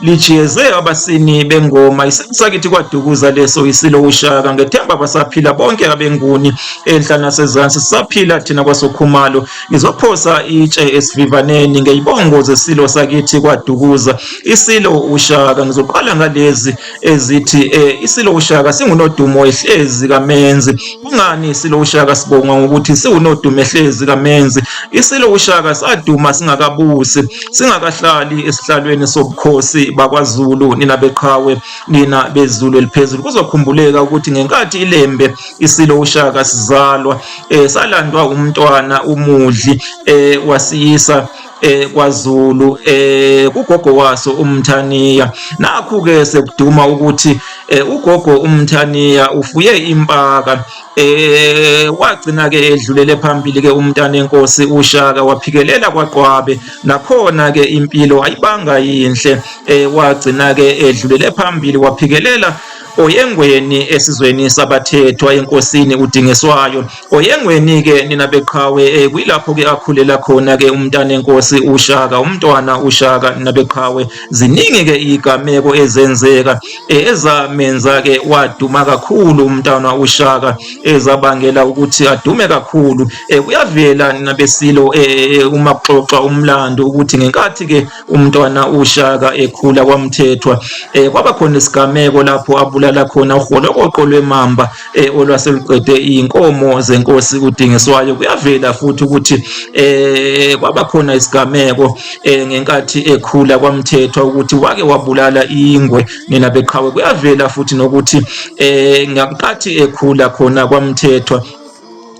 lijeze abasini bengoma isimo sakithi kwadukuza leso isilo ushaka ngethemba basaphila bonke abenguni enhla nasezansi sisaphila thina kwasokhumalo ngizophosa itshe esivivaneni ngeyibongo zesilo sakithi kwadukuza isilo ushaka ngizoqala ngalezi ezithi eh, isilo ushaka singunodumo ehlezi kamenzi Kungani iSilo uShaka sibonga ngokuthi siwunodume hlezi kaMenzi? ISilo uShaka saduma singakabusi, singakahlali esihlalweni sobukhosi bakwaZulu. Nina beqhawe, nina bezulu eliphezulu, kuzokhumbuleka ukuthi ngenkathi iLembe iSilo uShaka sizalwa, eh, salandwa umntwana uMudli eh, wasiyisa eh kwaZulu eh kugogo waso umthaniya nakhu ke sekuduma ukuthi eh, ugogo umthaniya ufuye impaka eh wagcina ke edlulele phambili ke umntana enkosi ushaka waphikelela kwaqwabe nakhona ke impilo ayibanga yinhle eh wagcina ke edlulele phambili waphikelela Oyengweni esizweni sabathethwa enkosini uDingiswayo. Oyengweni-ke nina beqhawe eh, kuyilapho-ke akhulela khona-ke umntana enkosi uShaka, umntwana uShaka nina beqhawe. Ziningi-ke iy'gameko ezenzeka eh, ezamenza-ke waduma kakhulu umntwana uShaka ezabangela ukuthi adume kakhulu. Eh, kuyavela nina besilo eh, uma kuxoxwa umlando ukuthi ngenkathi-ke umntwana ushaka ekhula kwamthethwa um kwaba khona isigameko lapho abulala khona uholokoqo lwemamba um olwaseluqede iy'nkomo zenkosi kudingiswayo kuyavela futhi ukuthi um kwaba khona isigameko um ngenkathi ekhula kwamthethwa ukuthi wake wabulala ingwe nina beqhawe kuyavela futhi nokuthi um ngakuqathi ekhula khona kwamthethwa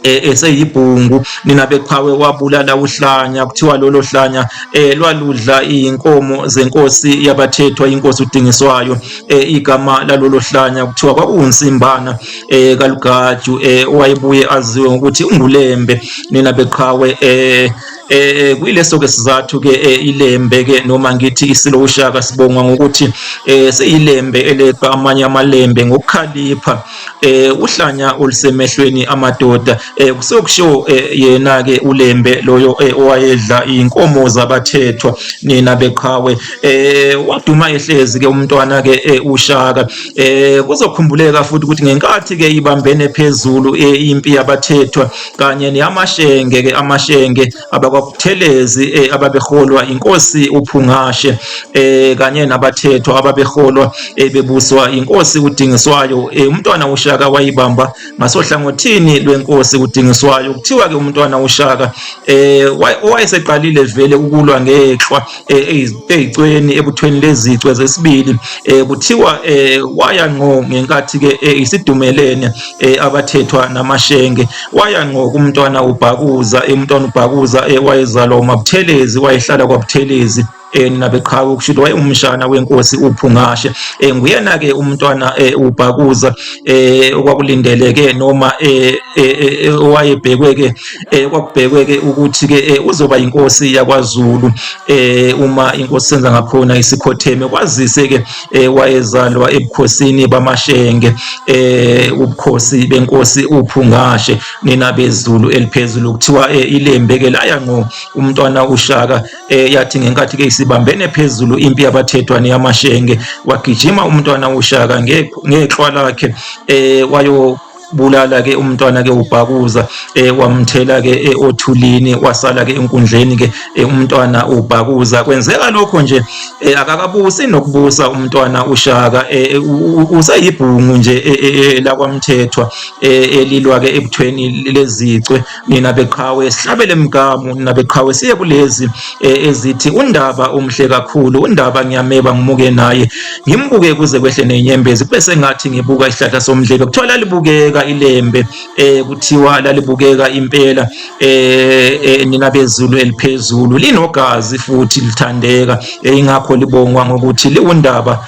Eh, eseyibhungu nina beqhawe wabulala uhlanya kuthiwa lolo hlanya eh, lwaludla iy'nkomo zenkosi yabathethwa inkosi udingiswayo eh, igama lalolo hlanya kuthiwa kwakuwunsimbana eh, kalugaju eh, owayebuye aziwe ngokuthi ungulembe nina beqhawe eh, eh kuyileso ke sizathu ke eh, ilembe ke noma ngithi isilo ushaka sibongwa ngokuthi eh seyilembe eleqa amanye amalembe ngokukhalipha eh uhlanya olusemehlweni amadoda eh kusokusho eh, yena ke ulembe loyo eh, owayedla inkomo zabathethwa nina beqhawe eh waduma ehlezi ke umntwana ke eh, ushaka eh kuzokhumbuleka futhi ukuthi ngenkathi ke ibambene phezulu eh, impi yabathethwa kanye neyamashenge ke amashenge abakwaButhelezi eh, ababeholwa inkosi uPhungashe eh, kanye nabathethwa ababeholwa eh, bebuswa inkosi uDingiswayo eh, umntwana uShaka wayibamba ngasohlangothini lwenkosi uDingiswayo kuthiwa ke umntwana uShaka eh, wayeseqalile vele ukulwa ngehlwa eh, eyicweni ebuthweni lezicwe zesibili eh, kuthiwa eh, waya ngqo ngenkathi ke isidumelene abathethwa namashenge waya ngqo kumntwana ubhakuza umntwana ubhakuza wayezalwa umabuthelezi wayehlala kwabuthelezi um nabeqhawe ukushuthi wayewumshana wenkosi uphungashe um nguyena-ke umntwana um ubhakuza um okwakulindeleke noma um owayebhekwe-ke eh kwakubhekwe ke ukuthi ke eh, uzoba inkosi yakwaZulu eh uma inkosi senza ngakhona isikhotheme kwazise ke eh, wayezalwa ebukhosini bamashenge eh ubukhosi benkosi uphungashe nina bezulu eliphezulu kuthiwa eh, ilembe ke laya ngo umntwana ushaka eh, yathi ngenkathi ke isibambene phezulu impi yabathethwa neyamashenge wagijima umntwana ushaka ngeqhwa lakhe eh wayo bulala ke umntwana ke ubhakuza eh wamthela ke eh, othulini wasala ke enkundleni ke eh, umntwana ubhakuza kwenzeka lokho nje eh, akakabusi nokubusa umntwana ushaka eh, usayibhungu nje eh, eh, eh lakwamthethwa eh, elilwa ke ebuthweni lezicwe nina beqhawe sihlabele mgamu nina beqhawe siye kulezi eh, ezithi undaba umhle kakhulu undaba ngiyameba ngimuke naye ngimbuke kuze kwehle nenyembezi kube sengathi ngibuka isihlahla somdlebe kuthiwa lalibukeka ilembe eh kuthiwa lalibukeka impela eh, eh nina bezulu eliphezulu linogazi futhi lithandeka eh, ingakho libongwa ngokuthi liwundaba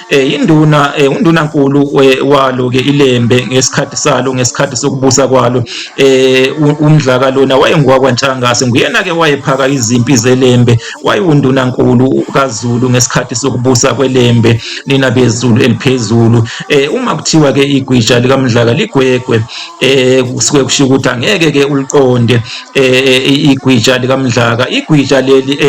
Eh, induna eh, undunankulu eh, walo ke ilembe ngesikhathi salo ngesikhathi sokubusa kwalo eh umdlaka lona wayengowakwantshangazi nguyena ke wayephaka izimpi zelembe wayewundunankulu kaZulu ngesikhathi sokubusa kwelembe nina bezulu eliphezulu eh uma kuthiwa ke igwija likamdlaka ligwegwe eh kusuke kusho ukuthi angeke ke uliqonde eh igwija likamdlaka igwija leli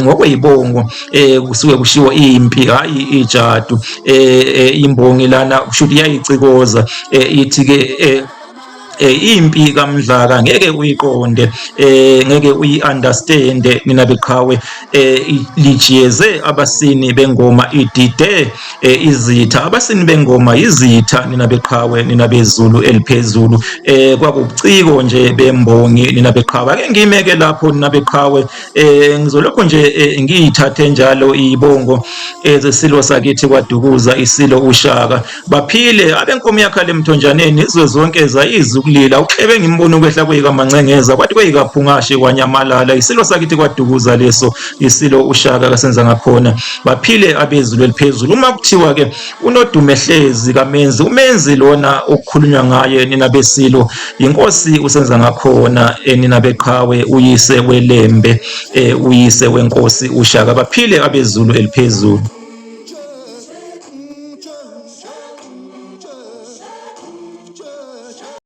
ngokweyibongo eh kusuke kushiwo impi hayi ijadu eh, eh imbongi lana kusho ukuthi iyayicikoza eh, ithi ke eh, eh impi kamdlaka ngeke uyiqonde eh ngeke uyiunderstand nina beqhawe eh lijiyeze abasini bengoma idide eh, izitha abasini bengoma izitha nina beqhawe nina bezulu eliphezulu eh kwakuciko nje bembongi nina beqhawe ake ngimeke lapho nina beqhawe eh ngizolokho nje eh, ngiyithathe njalo ibongo ezesilo eh, sakithi kwadukuza isilo ushaka baphile abenkomo yakhe lemthonjaneni izwe zonke zayizi ukulila uhlebe ngimbono kwehla kuyika mancengeza kwathi kuyika phungashe kwanyamalala isilo sakithi kwadukuza leso isilo ushaka kasenza ngakhona baphile abezulu eliphezulu uma kuthiwa ke unodumehlezi kamenzi umenzi lona okukhulunywa ngaye nina besilo yinkosi usenza ngakhona eh, nina beqhawe uyise welembe eh, uyise wenkosi ushaka baphile abezulu eliphezulu